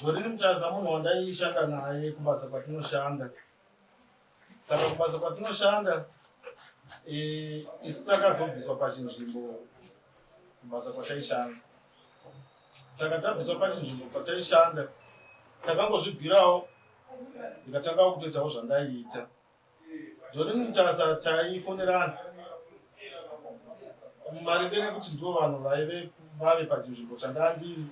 Zvorini Mutaza munhu wandaishanda naye kubasa kwatinoshanda. Saka kubasa kwatinoshanda eh, isu takazobviswa pachinzvimbo kubasa kwataishanda. Saka tabviswa pachinzvimbo pataishanda takangozvibvirawo ndikatanga kutoitawo zvandaiita. Jolin Mutasa taifonerana maringe nekuti ndivo vanhu vaive vave pachinzvimbo chandanga ndiri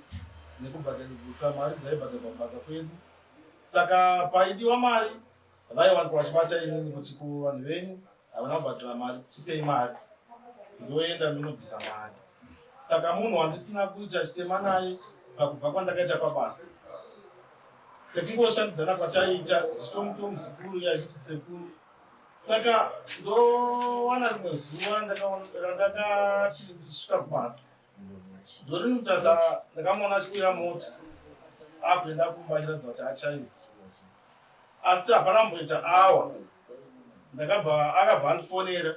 nekubhadharisa mari dzaibhadharwa kubasa kwedu saka paidiwa mari vaiwanikwa vachibata inini kuti ko vanhu venyu havana kubhadhara mari tipei mari ndoenda ndinobvisa mari saka munhu wandisina kuita chitema naye pakubva kwandakaita pabasa sekungoshandidzana kwataiita zvitomuti womuzukuru uye achiti sekuru saka ndowana rimwe zuva randakati ndisvika kubasa ndorini mutasa ndakamuona achikwira mota akuenda kumba achiratidza kuti achaisi asi hapana mboita awa ndakabva akabva andifonera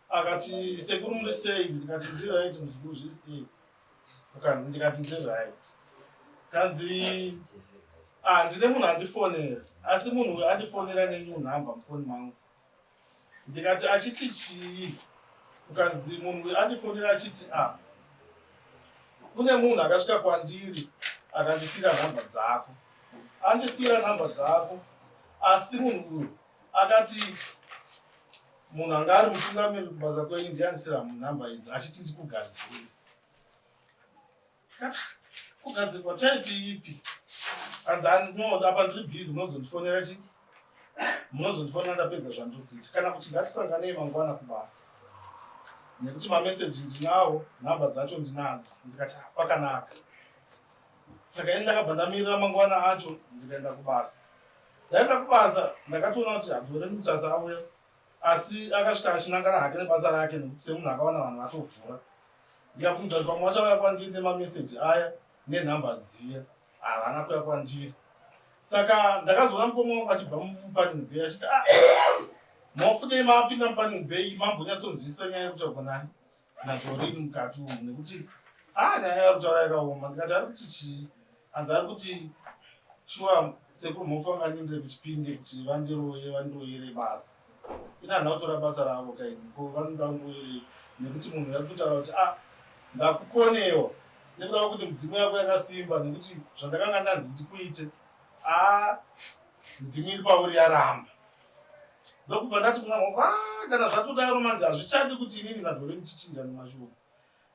akati sekuru muri sei ndikati ndiri aiti muzukuru zviri sei ndikati ndiri right kanzi ah ndine munhu andifonera asi munhu uyu andifonera nenew number mufoni mangu ndikati achiti chii ukanzi munhu uyu andifonera achiti ah kune munhu akasvika kwandiri akandisiyira nhamba dzako andisiyira nhamba dzako asi munhu uyu Akati munhu anga ari mutungamiri kubasa kwenyu ndianisira nhamba idzi achiti ndikugadzire. Kugadzirwa type ipi? Hanzi no apa ndiri busy munozondifonera chi munozondifonera ndapedza zvandiri kuita kana kuti ngatisanganei mangwana kubasa nekuti mameseji ndinawo nhamba dzacho ndinadzo ndikati pakanaka saka ini ndakabva ndamirira mangwana acho ndikaenda kubasa ndaenda kubasa ndakatoona kuti hadzore mutasa auya asi akasvika achinangana hake nebasa rake nekuti semunhu akawana vanhu vatovhura ndikabvunza kuti pamwe vachauya kwandiri nemameseji aya nenhamba dziya havana kuya kwandiri saka ndakazoona mukoma wangu achibva mupanning bay achiti ah, mofudei mapinda mupanning bay mambonyatsonzwisisa nyaya yekuti agonani natori mukati umu nekuti ah nyaya yari kutaura yakaoma ndikati ari kuti chii anzi ari kuti shuwa sekuru mofa nganyindire kuchipinge kuti vandiroye vandiroyere basa ina handina kutora basa ravo kaini ko vanoda kundiroyerei nekuti munhu yari kutotaura kuti ah ndakukonewa nekuda kwekuti mudzimu yako yakasimba nekuti zvandakanga ndanzi ndikuite aa ah, mudzimu iri pauri yaramba ndokubva ndati kuna Hope, ah kana zvatodaro manje hazvichadi kuti inini naDoreen tichinjane mashoko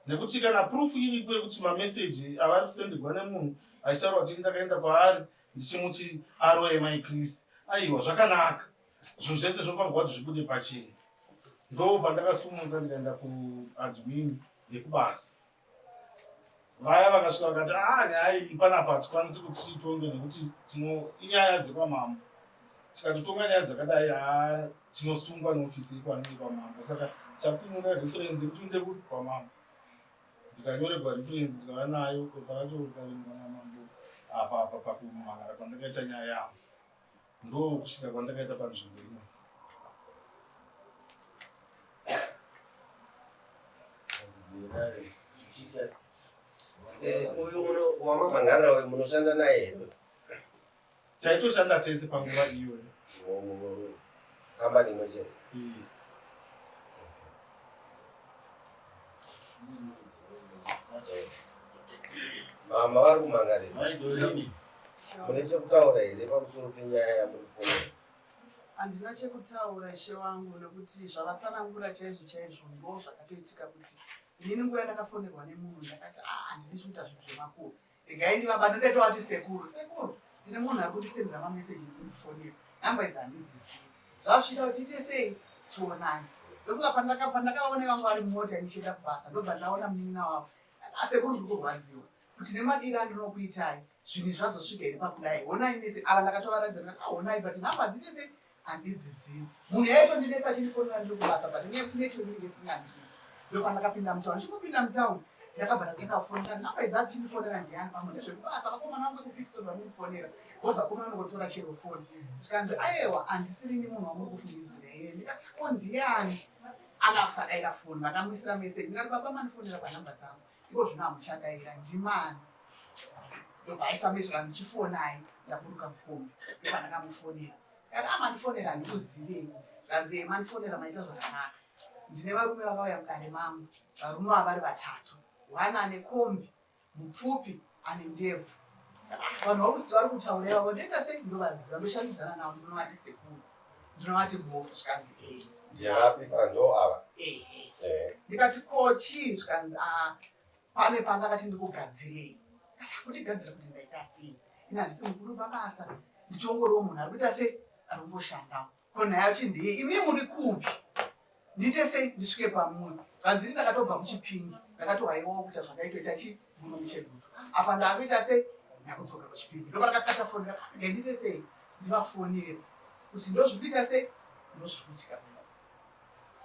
nekuti kana proof iripo yekuti mameseji avari kusenderwa nemunhu achitaura kuti ini ndakaenda kwaari ndichimuti aroye mai Chris. Aiwa zvakanaka, zvinhu zvese zvofanirwa kuti zvibude pachena. Ndoo pandakasumuka ndikaenda kuadmin yekubasa. vaya vakasvika vakati aa ah, nyaya iyi panapa hatikwanisi kuti tiitonge nekuti tino inyaya dzekwamambo tikatotonga nyaya dzakadai haa tinosungwa neofisi ikwanei kwamambo saka takunyora referensi yekuti inde kuti kwamambo ndikanyoregwa referensi ndikava nayo pepa racho rikaverenga namambo apa apa pakumhangara kwandakaita nyaya yangu ndokusvika kwandakaita panzvimbo ino eh, uyu wamamhangarira uyu munoshanda naye here taitoshanda tese panguva iyoyo Kambani imwe chete. Mama vari kumangarira. Mune chekutaura here pamusoro penyaya yamuri kuona? Handina chekutaura ishe wangu nekuti zvavatsanangura chaizvo chaizvo ndo zvakatoitika kuti inini nguva yandakafonerwa nemunhu ndakati ah handidi zvikuita zvinhu zvemakuru Regai ndivabate ndatovati sekuru sekuru ndine munhu ari kundisendera mameseji nekundifonera namba idzi handidzizivi zvazvida kuti tiite sei tionani ndofunga pandakavaona vanga vari mota ndichienda kubasa ndobva ndaona munin'ina wavo asekuru ndiri kurwadziwa kuti nemadiri andinokuitai zvinhu zvazosvika here pakudai honai mese ava ndakatovaratidza ndakati ahonai but namba dziite sei Handidzizivi. Munhu yaitondinetsa achindifonera ndiri kubasa but nenyaya yekuti network inenge isinganzwi. Ndopandakapinda mutown. Ndichingopinda mutown ndakabva ndatanga kufonera nhamba idzi achindifonera ndiani pamwe ndezvekubasa vakomana vangu vekupitstone vamundifonera bcause vakomana vanongotora chero foni zvikanzi ayewa handisirini munhu wamuri kufungidzira here ndikati ko ndiani anga kusadaira foni vakamuisira meseji ndikati baba mandifonera panhamba dzangu Zviro zvino hamuchadaira ndimani ndobva aisa mezvo kanzi chifonai ndaburuka mukombi ndobva ndakamufonera kana amandifonera handikuzivei zvanzi e mandifonera maita zvakanaka ndine varume vakauya mudare mangu varume vavari vatatu one ane kombi mupfupi Ane ndebvu. Vanhu vakuziva vari kutaura ivavo ndoita sei ndovaziva ndoshandidzana navo ndinovati sekuru ndinovati mhofu zvikanzi ee ndirapi pando ava ehe ndikati ko chii zvikanzi a ah, pane panga kati ndikugadzirei kati akundigadzira kuti ndaita sei ini handisi mukuru pabasa ndichongoriwo munhu ari kuita sei ari kungoshandawo Ko nhaya yacho ndeye imi muri kupi? Ndiite sei ndisvike pamuri? Zvanzi ndakatobva kuchipingi ndakatohaiwawo kuita zvakaitoita chi murume chedutu. Apa ndakuita sei? Ndakudzoka kuchipingi ndoba ndakakata foni ndakati ndiite sei? Ndivafonere kuti ndozvikuita sei? Ndozvikuitika.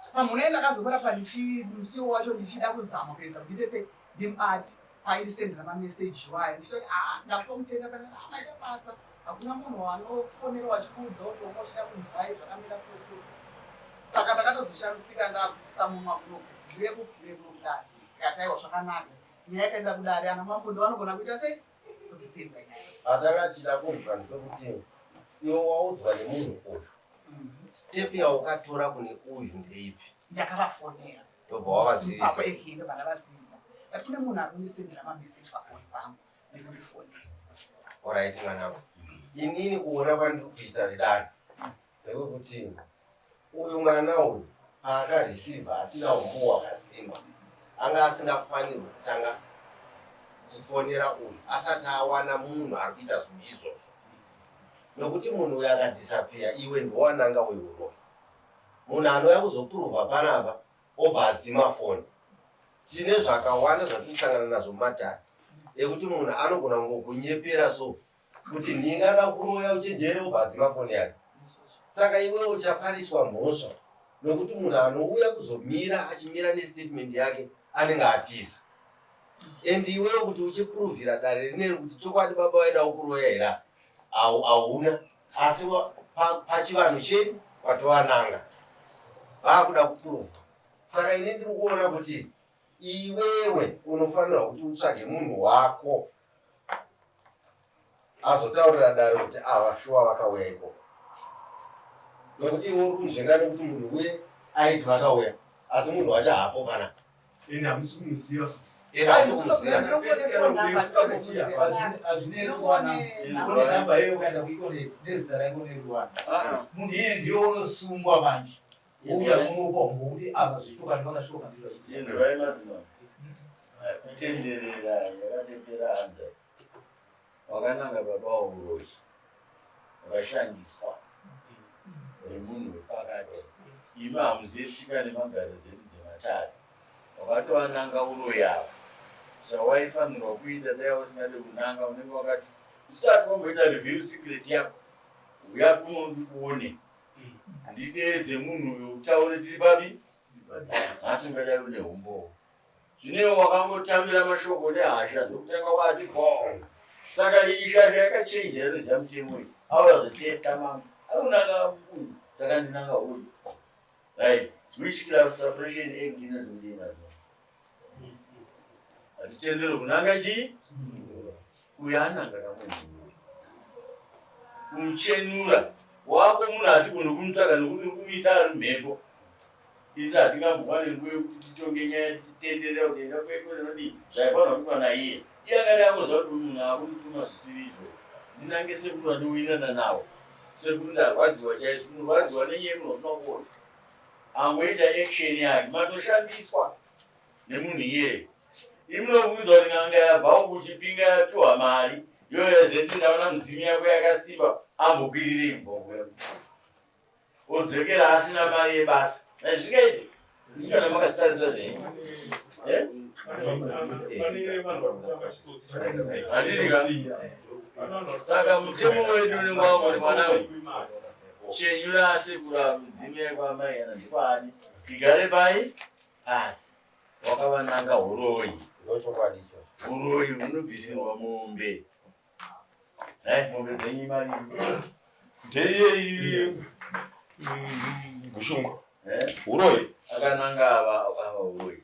samhuna ye ndakazomurapa ndichimusiwo wacho ndichida kuzama kuedza kuite se him art aindisendera mameseji iwayo ndichitoti aa ah, ndakutomutenda pana ah, maita basa hakuna munhu wanofonera wachikuudza utooma uchida kunzwai zvakamira sososo saka ndakatozoshamisika ndakuisa mumwa kunokudzirepo kurepo kudari ikataiwa zvakanaka nyaya yakaenda kudari ana mambo ndivanogona kuita sei kudzipedza nyaya idzi atanga achida kunzwa ndepekuti iwe waudzwa nemunhu uyu mm. step yaukatora kune uyu ndeipi ndakavafonera ndobva wavazivisa ehe ndobva ndavazivisa ndati kune munhu ari kundisendera mameseji pafoni pangu nekundifonera orit mwanangu inini kuona kwandiri kuita vedani Ndewekuti uyu mwana uyu paaka receiver asina humbowo hwakasimba anga asingafanirwi kutanga kufonera uyu asati awana munhu ari kuita zvinhu izvozvo nokuti munhu uyu akadhisapiya iwe ndiwananga weuroyi munhu anouya kuzopurovha panapa obva adzima foni tine zvakawanda zvatiri kusangana nazvo mumatare ekuti munhu anogona kungokunyepera so kuti nhingi ada kuroya uchenjere ubva adzima foni yake saka iwe uchapariswa mhosva nokuti munhu anouya kuzomira achimira nestatement yake anenge atiza and iwewe kuti uchipuruvhira dare rine rekuti chokwadi baba vaida ukuroya here hauna asi pachivanhu pa chedu kwatovananga vaakuda kupuruvha saka ini ndiri kuona kuti iwewe unofanirwa kuti utsvage munhu wako azotaurira dare kuti ava shuwa vakauya ikoko nokuti iwe uri kunzvenga nokuti munhu uye aiti vakauya asi munhu wacho haapo kana ende hamusi kumuziva munhu iye ndiyo unosungwa manje Wouya kumupa umbouti apa zvechokwadi vakasvika pandiri vachiti. Inzwai madzimambo. Kutenderera yakatepera hanza. Wakananga baba wauroyi. Wakashandiswa nemunhu wepakati. Imi hamuzive tsika nemagaro dzedu dzematare. Wakatoananga uroyi ava. Zvawaifanirwa kuita dai usingade kunanga unenge wakati usati wamboita reveal secret yako. Huya kuno ndikuone. ndideedze munhu uyo utaure tiri papi nhasi ungadai une humbowo zvinewo wakangotambira mashoko nehasha ndokutanga wati bo saka iyi shasha yakachenjera neziva mutemo iyi aurazetesta mama aunaka uyu saka ndinanga uyu right which class suppression act inoti mudii mazuva Hatitendero kunanga chii? Uyo ananga kamunhuwe. Kumuchenura wako munhu hatigone kumutsvaga nokuti uri kumisa ari mhepo. Isi hatingambowane nguva yokuti titonge nyaya tichitenderera kuti enda kweko nodii zvaifanira kuitwa naiye. Iye angade angoziva kuti munhu akundituma zvisiri izvozvo. Ndinange sekuru vandiwirirana navo. Sekuru ndarwadziwa chaizvo. Kurwadziwa nenyaya yemunhu wafunga kuona. angoita action yake matoshandiswa nemunhu iyeye imunovuudzwa kuti n'anga yabvawo kuchipinga yapiwa mari yoyazeti ndaona mudzimu yako yakasimba ambokwirire imbongo yako odzokera asina mari yebasa nazvingaiti ndikana makazvitarisa zvenyu eh? andidika saka mutemo wedu unenge wangoti mwana uyu Chenyura asekuru ava midzimu yakwamai kana ndikwaani igare pai asi wakavananga huroyi huroyi hunobvisirwa mombe eh, mombe dzenyu imari ndeyei gushungu eh? huroyi akananga ava akava huroyi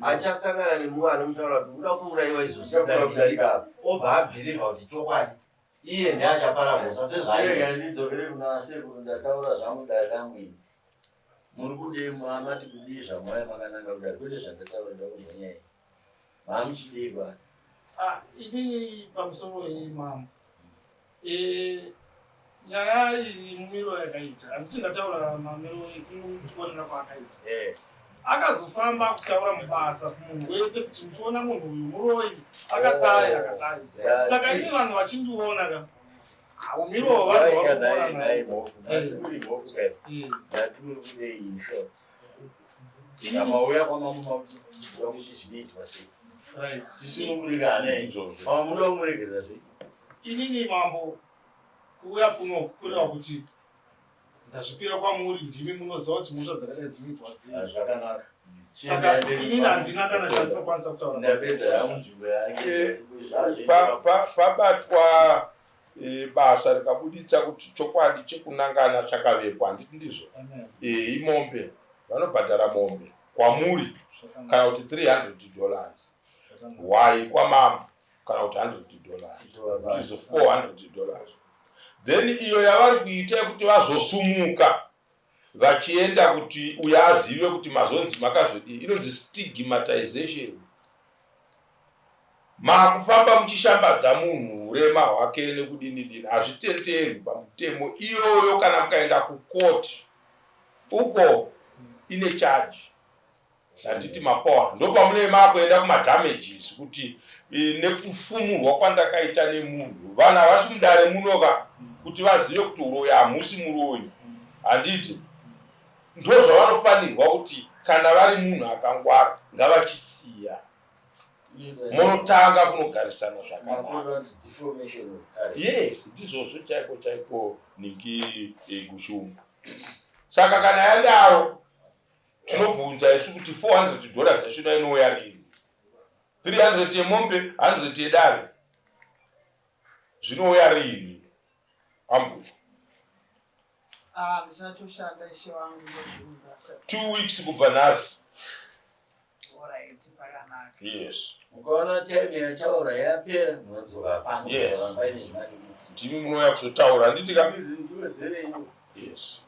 achasangana nemumwe anomutaura kuti uda kuuraiwa izvozvi kudarika obva abhirivha kuti chokwadi iye ndiye achapara mhosa sezvaidzokere kuna sekuru ndataura zvangu dare rangu ini muri kudei mamati kudii zvamwaya makananga kudari kwete zvandataura nda kuzonyai mamuchidei kwani ah, inini pamusoro imambo Eh, nyaya iyi mumiro yakaita handiti ndataura mamiro ekumufonera kwaakaita eh. akazofamba kutaura mubasa kumunhu wese kuti muchiona munhu uyu muroi akadai oh. akadai saka ini vanhu vachindiona ka umiro waamauya kwamamauyakuti zvinoitwa sei tisunungurirane izvozvo pamwe muda kumuregerera zvei Inini mambo kuuya kuno kureva kuti ndazvipira kwamuri ndimi munoziva kuti mhosva dzakadai dzinoitwa sei ah, zvakanaka saka inini handina kana chandinokwanisa kutaurapabatwa eh, eh, basa rikabuditsa kuti chokwadi chekunangana chakavepo handiti ndizvo eh, imombe vanobhadhara mombe kwamuri kana kuti 300 dollars why kwamambo kana kuti 100 dollars izo 400 dollars then iyo yavari kuita yekuti vazosumuka vachienda kuti uya azive kuti mazonzi makazodii inonzi stigmatization makufamba muchishambadza munhu urema hwake nekudini dini hazvitenderwi pamutemo iyoyo kana mukaenda kukoti uko ine chaji Zanditi Mapoa ndopamunei makuenda kuma damages kuti nekufumurwa kwandakaita nemunhu vanhu havasi mudare muno ka kuti vazive kuti uroyi hamusi muroyi handiti ndozvavanofanirwa kuti kana vari munhu akangwara ngavachisiya munotanga kunogarisana zvakanaka yes ndizvozvo chaiko chaiko niki eh, gushungu saka kana yadaro Tinobvunza isu kuti 400 dollars yachona inouya rini? 300 yemombe, 100 yedare zvinouya rini? Ambuya. Ah, ndichatoshanda ishe wangu ndozviunza. Two weeks kubva nhasi. Alright, pakanaka. Yes. Ukaona time yataura yapera munodzoka pano. Yes. Ndimi munouya kuzotaura handiti ka? Ndiwedzerei. Yes.